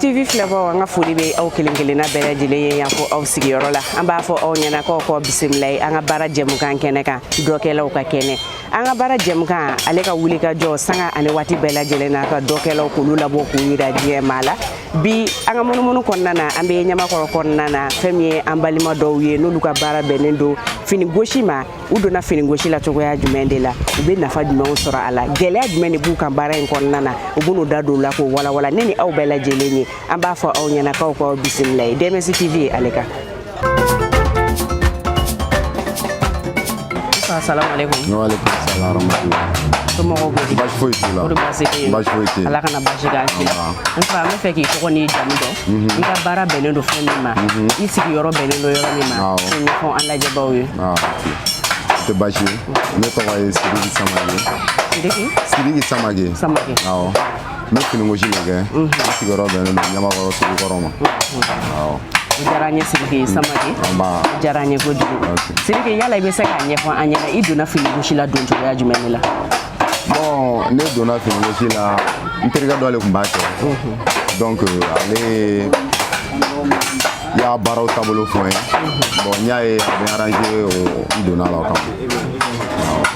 TV filɛbaaw an ka foli bɛ aw kelen kelenna bɛɛ lajɛlen ye yan fɔ aw sigiyɔrɔ la an b'a fɔ aw ɲɛna k'aw k'aw bisimila ye an ka baara jɛmukan kɛnɛ kan dɔkɛlaw ka kɛnɛ an ka baara jɛmukan ale ka wuli ka jɔ sanga ani waati bɛɛ lajɛlen na ka dɔkɛlaw k'olu labɔ k'u yira diɲɛ maa la bi an ka munumunu kɔnɔna na an bɛ ɲamakɔrɔ kɔnɔna na fɛn min ye an balima dɔw ye n'olu ka baara bɛnnen don fini gosi ma u donna finigosi la cogoya jumɛn de la u bɛ nafa jumɛnw sɔrɔ a la gɛlɛya jumɛn de b'u kan baara in kɔnɔna na u b'u da don a la k'o walawala ne ni aw bɛɛ lajɛlen ye an b'a fɔ aw ɲɛna k'aw k'aw bisimila ye dmc tv ale kan Assalamualaikum. Waalaikumsalam warahmatullahi Somɔgɔw bɛ di? Baasi foyi t'u la. Kɔri baasi tɛ yen? Baasi foyi tɛ yen. Ala kana baasi k'an si la. N fa n b'a fɛ k'i tɔgɔ n'i jamu dɔn. mhm. i ka baara bɛnnen don fɛn min ma mhm. i sigiyɔrɔ bɛnnen don yɔrɔ min ma k'o ɲɛfɔ an lajɛbaaw ye o tɛ baasi ye ne tɔgɔ ye sidiki samake sidiki samake awɔ n bɛ finigosi de kɛ mhm. n sigiyɔrɔ bɛnnen don ɲamakɔrɔ sugu kɔrɔ ma awɔ o diyara an ye sidiki samake o diyara an ye kojugu sidiki yala i bɛ se k'a ɲɛfɔ an ɲɛna i donna finigosi la don cogoya jumɛn de la ne donna finigosi la n terikɛ dɔ de tun b'a kɛ donc ale y'a baaraw taabolo fɔ n ye bon n y'a ye a bɛ arranger n donna la o kama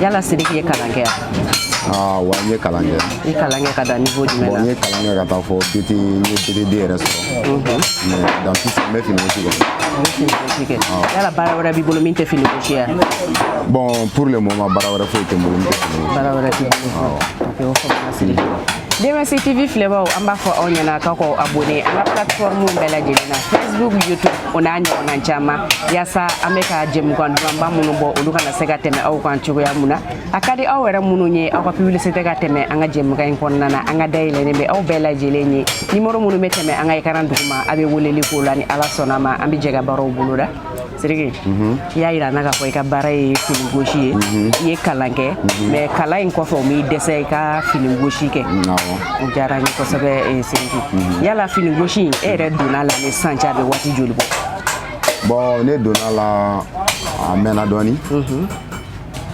yala sidiki ye kalan kɛ yan wa n ye kalan kɛ i ye kalan kɛ ka dan niveau jumɛn la n ye kalan kɛ ka taa fɔ bt n ye bt2 yɛrɛ sɔrɔ mais dans tout ça n bɛ finigosi kɛ yala baara wɛrɛ b'i bolo min tɛ finigo si ye. Bon, pour le moment, baara wɛrɛ foyi tɛ n bolo. Baara wɛrɛ tɛ n bolo. Ok, o faamuna Siriki. DMC TV filɛbaaw an b'a fɔ aw ɲɛna k'aw k'aw abonné an ka plateforme bɛɛ lajɛlen na Facebook YouTube o n'a ɲɔgɔnna caman yaasa an bɛ ka jɛmukan dumanba minnu bɔ olu kana se ka tɛmɛ aw kan cogoya mun na a ka di aw yɛrɛ minnu ye aw ka publicité ka tɛmɛ an ka jɛmukan in kɔnɔna na an ka da yɛlɛnen bɛ aw bɛɛ lajɛlen ye nimoro minnu bɛ tɛmɛ an ka ekaran duguma a bɛ weleli k'o la ni ala sɔnna a ma an bɛ jɛ ka baaraw boloda Siriki i y'a yira an na k'a fɔ i ka baara ye fini gosi ye i ye kalan kɛ mais kalan in kɔfɛ o m'i dɛsɛ i ka fini gosi kɛ o diyara n ye kosɛbɛ eh, Siriki yala fini gosi in e yɛrɛ donna a la ni sisan cɛ a bɛ waati joli bɔ bon ne donna la a mɛnna dɔɔni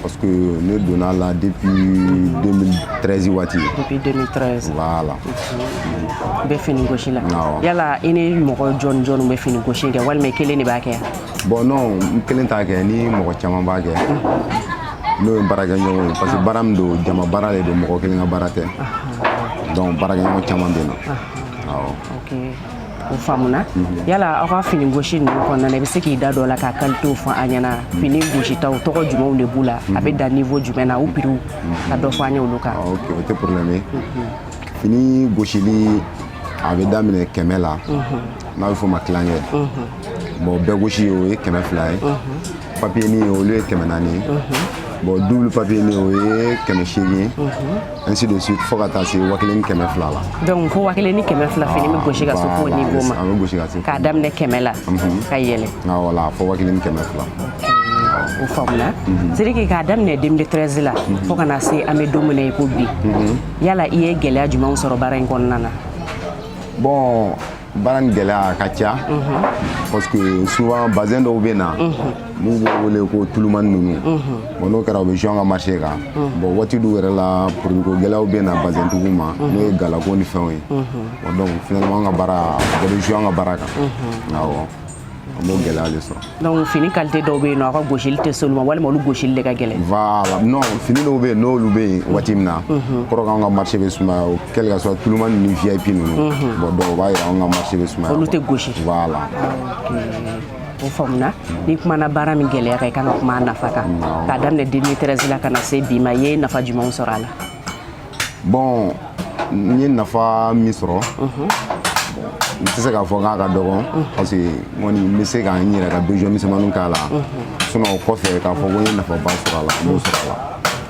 parce que ne donna la depuis 2013 waati depuis 2013 voilà mhm. i bɛ fini gosi la yala i ni mɔgɔ jɔni jɔni bɛ fini gosi kɛ walima i kelen de b'a kɛ bon non n kelen t'a kɛ n ni mɔgɔ caman b'a kɛ mhm. n'o ye baarakɛɲɔgɔn ye parce que baara min don jama baara de don mɔgɔ kelen ka baara tɛ donc baarakɛɲɔgɔn caman bɛ n na awɔ o faamuna mhm. yala aw ka fini gosi ninnu kɔnɔna i bɛ se k'i da dɔ la k'a qualitéw fɔ an ɲɛna mhm. fini gositaw tɔgɔ jumɛnw de b'u la a bɛ mhm. dan niveau jumɛn na u piriw ka dɔ fɔ an ye olu kan ah, ok o tɛ problème ye fini gosili a bɛ daminɛ kɛmɛ la n'a bɛ fɔ o ma tilancɛ bon bɛɛ gosi o ye kɛmɛ fila ye papier ni olu ye kɛmɛ naani ye bon double papier ni o ye kɛmɛ seegin ainsi de suite fo ka taa se wa kelen ni kɛmɛ fila la donc fo wa kelen ni kɛmɛ fila fini bɛ gosi ka se f'o niveau ma a bɛ gosi ka se k'a daminɛ kɛmɛ la ka yɛlɛ voilà fo wa kelen ni kɛmɛ fila o faamuna sidiki k'a daminɛ 2013 la fo ka na se an bɛ don min na i ko bi yala i ye gɛlɛya jumɛnw sɔrɔ baara in kɔnɔna na bon baara nin gɛlɛya a ka ca parce que souvent bazin dɔw bɛ na n'u b'o wele ko tulumani ninnu bon n'o kɛra o bɛ jouer an ka marché kan bon waati dɔw yɛrɛ la produit ko gɛlɛyaw bɛ na bazintigiw ma n'o ye galako ni fɛnw ye donc finalement an ka baara a bɛ jouer an ka baara kan awɔ An b'o gɛlɛya de sɔrɔ donc fini qualité dɔw bɛ yen nɔ aw ka gosili tɛ s'olu ma walima olu gosili de ka gɛlɛn voilà non fini dɔw bɛ yen n'olu bɛ yen waati min na kɔrɔ k'anw ka marché bɛ sumaya quel que soit tulumani ni VIP ninnu bon donc o b'a yira anw ka marché bɛ sumaya olu tɛ gosi voilà o faamuna n'i kumana baara min gɛlɛya kan i kan ka kuma a nafa kan k'a daminɛ 2013 la ka na se bi ma i ye nafa jumɛnw sɔrɔ a la bon n ye nafa min sɔrɔ n tɛ se k'a fɔ k'a ka dɔgɔn parce que n kɔni n bɛ se ka n yɛrɛ ka besoin misɛnmaninw k'a la sinon o kɔfɛ k'a fɔ ko n ye nafaba sɔrɔ a la n m'o sɔrɔ a la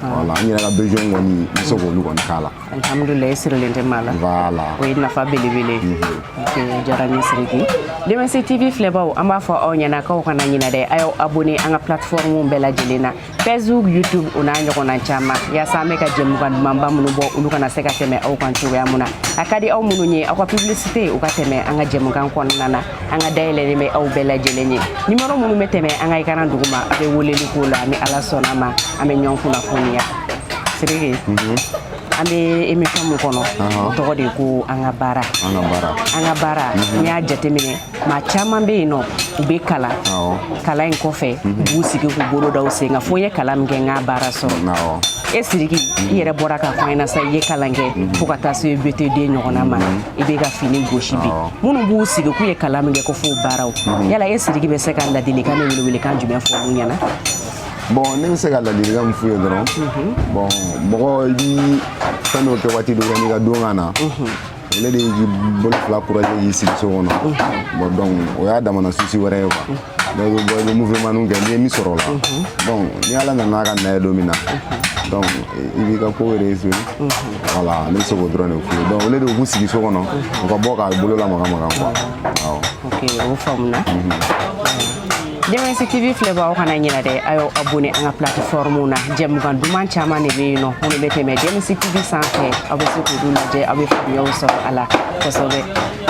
voilà n yɛrɛ ka besoin kɔni n bɛ se k'olu kɔni k'a la alihamudulila i sirilen tɛ maa la voilà o ye nafa belebele ye Ok, o diyara n ye siriki dms tv filɛbaw an b'a fɔ aw ɲɛna k'aw kana ɲinɛ dɛ a y'aw abonné an ka plateforme bɛɛ lajɛlen na facebook youtube o n'a ɲɔgɔnna caman yaasa an bɛ ka jɛmukan dumanba minnu bɔ olu kana se ka tɛmɛ aw kan cogoya min na a ka di aw minnu ye aw ka publicité o ka tɛmɛ an ka jɛmukan kɔnɔna na an ka da yɛlɛlen bɛ aw bɛɛ lajɛlen ye numéro minnu bɛ tɛmɛ an ka écran duguma a bɛ weleli k'o la ni ala sɔnna ma an bɛ ɲɔgɔn kunnafoniya siriki an bɛ émission min kɔnɔ o tɔgɔ de ko an ka baara an ka baara n'i y'a jateminɛ maa caman bɛ yen nɔ u bɛ kalan kalan in kɔfɛ mhm. u b'u sigi k'u bolo da u sen kan fo n ye kalan min kɛ n k'a baara sɔrɔ e siriki i yɛrɛ bɔra k'a fɔ an ɲɛna sa i ye kalan kɛ mhm. fo ka taa se bt2 ɲɔgɔnna ma mhm. i bɛ ka fini gosi bi minnu b'u sigi k'u ye kalan min kɛ ko f'o baaraw yala e siriki bɛ se ka ladilikan ni welewelekan jumɛn fɔ olu ɲɛna bon ne bɛ se ka ladilikan min f'u ye dɔrɔn bon mɔgɔ i bi fɛn dɔ kɛ waati dɔ la n'i ka don ka na ale de y'i bolo fila croiser k'i sigi so kɔnɔ bon donc o y'a damana souci wɛrɛ ye quoi dɔ bɛ bɔ i bɛ mouvementw kɛ n'i ye min sɔrɔ o la donc ni ala nana a ka na ye don min na donc i b'i ka ko réussir voilà ne bɛ se k'o dɔrɔn de f'u ye donc olu de b'u sigi so kɔnɔ u ka bɔ k'a bolo lamaga maga quoi awɔ ok o faamuna jɛmɛsi tv filɛbaaw kana ɲinɛ dɛ a y'aw abonner an ka plateforme na jɛmukan duman caman de bɛ yen nɔ minnu bɛ tɛmɛ jɛmɛsi tv sanfɛ aw bɛ se k'olu lajɛ aw bɛ faamuyaw sɔrɔ a la kosɛbɛ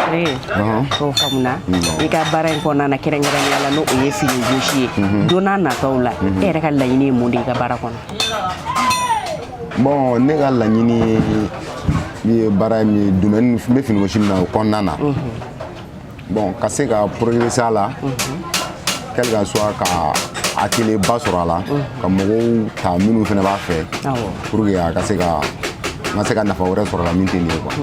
ok o faamuna i ka baara in kɔnɔna na kɛrɛnkɛrɛnnenya la n'o ye fini gosi ye don n'a nataw la e yɛrɛ ka laɲini ye mun de ye i ka baara kɔnɔ bon ne ka laɲini ye min ye baara ye min ye domaine n bɛ fini gosi min na o kɔnɔna na Bon ka se ka progresser a la quel que soit ka atelier ba sɔrɔ a la ka mɔgɔw ta minnu fana b'a fɛ pour que a ka se ka n ka se ka nafa wɛrɛ sɔrɔ la min tɛ nin ye quoi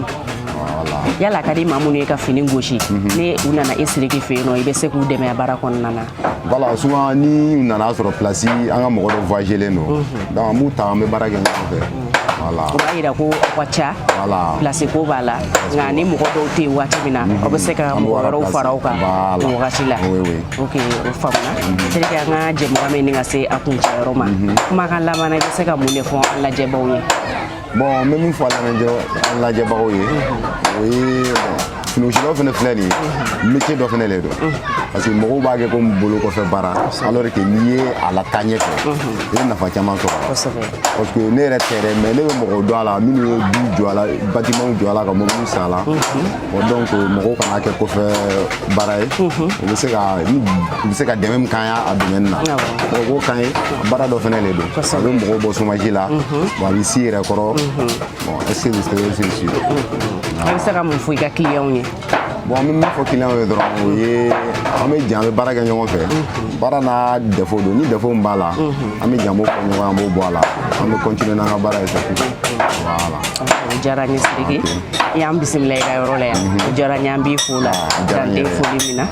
yala a ka di maa minnu ye ka fini gosi ni u nana e Siriki fɛ yen nɔ i bɛ se k'u dɛmɛ baara kɔnɔna na Voilà, souvent ni u nana sɔrɔ place an ka mɔgɔ dɔ voyagelen don mhm. donc an b'u ta an bɛ baara kɛ ɲɔgɔn fɛ voilà o b'a yira ko aw ka ca voilà place ko b'a la nka ni mɔgɔ dɔw tɛ yen waati min na mhm. aw bɛ se ka mɔgɔ wɛrɛw fara aw kan o wagati la ok o faamuna mhm. Siriki an ka jɛmukan bɛ ɲini ka se a kuncɛyɔrɔ ma kumakan laban na i bɛ se ka mun de fɔ an lajɛbaaw ye bon n bɛ min fɔ an lajɛbagaw ye o ye finigosilaw fana filɛ nin ye métier dɔ fana le don parce que mɔgɔw b'a kɛ komi bolo kɔfɛ baara alors que n'i ye a la taa ɲɛfɛ i bɛ nafa caman sɔrɔ a la parce que ne yɛrɛ tɛ dɛ mais ne bɛ mɔgɔw dɔn a la minnu ye du jɔ a la bâtiment jɔ a la ka mɔbiliw san a la donc mɔgɔw kana kɛ kɔfɛ baara ye u bɛ se ka u bɛ se ka dɛmɛ min k'an ye a domaine na u k'o k'an ye baara dɔ fana de don a bɛ mɔgɔw bɔ chômage la wa a bɛ s'i yɛrɛ kɔrɔ bon est ce que vous savez ce sujet a bɛ se ka mun fɔ i ka clients ye bon an bɛ min fɔ clients ye dɔrɔn o ye an bɛ jɛ an bɛ baara kɛ ɲɔgɔn fɛ baara n'a défaut don ni défaut min b'a la an bɛ jɛ an b'o fɔ ɲɔgɔn an b'o bɔ a la an bɛ continuer n'an ka baara ye sa voilà o diyara n ye Sidiki y'an bisimila i ka yɔrɔ la yan o diyara n ye an b'i fo la dan tɛ foli min na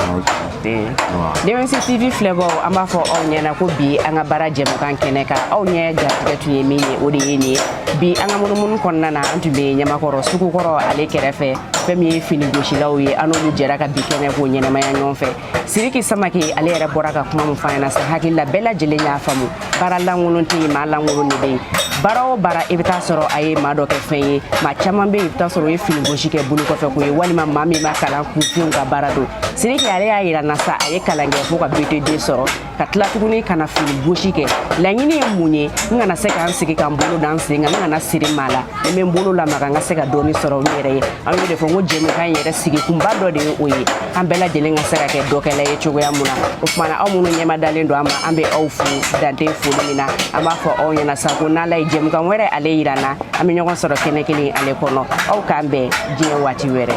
jɛmɛsi tv filɛbaaw an b'a fɔ aw ɲɛna ko bi an ka baara jɛmukan kɛnɛ kan aw ɲɛ garijɛgɛ tun ye min ye o de ye nin ye bi an ka munumunu kɔnɔna na an tun bɛ ɲamakɔrɔ sugukɔrɔ ale kɛrɛfɛ fɛn min ye fini gosilaw ye an n'olu jɛra ka bi kɛnɛ k'o ɲɛnamaya ɲɔgɔn fɛ siriki samake ale yɛrɛ bɔra ka kuma min f'an ɲɛna sa hakili la bɛɛ lajɛlen y'a faamu baara lankolon tɛ yen maa lankolon de bɛ yen baara o baara i bɛ taa sɔrɔ a ye maa dɔ kɛ fɛn ye maa caman bɛ yen i bɛ taa sɔrɔ u ye fini gosi kɛ bolo kɔfɛ ko ye walima maa min ma kalan kunfinw ka baara don siriki ale y'a yira an na sa a ye kalan kɛ fo ka btd sɔrɔ ka tila tuguni ka na fini gosi kɛ laɲini ye mun ye n kana se ka n sigi ka n bolo da n sen kan n kana siri maa la ni n bɛ n bolo lamaga n ka se ka dɔɔni sɔrɔ n yɛrɛ ye an y'o de fɔ n ko jɛmukan in yɛrɛ sigikunba dɔ de ye o ye an bɛɛ lajɛlen ka se ka kɛ dɔkɛla ye cogoya mun na o tuma na aw minnu ɲɛmadalen don an ma an bɛ aw fo dan tɛ foli min na an b'a fɔ aw ɲɛna sa ko n'ala ye jɛmukan wɛrɛ ale yira an na an bɛ ɲɔgɔn sɔrɔ kɛnɛ kelen ale kɔnɔ aw k'an bɛn diɲɛ waati wɛrɛ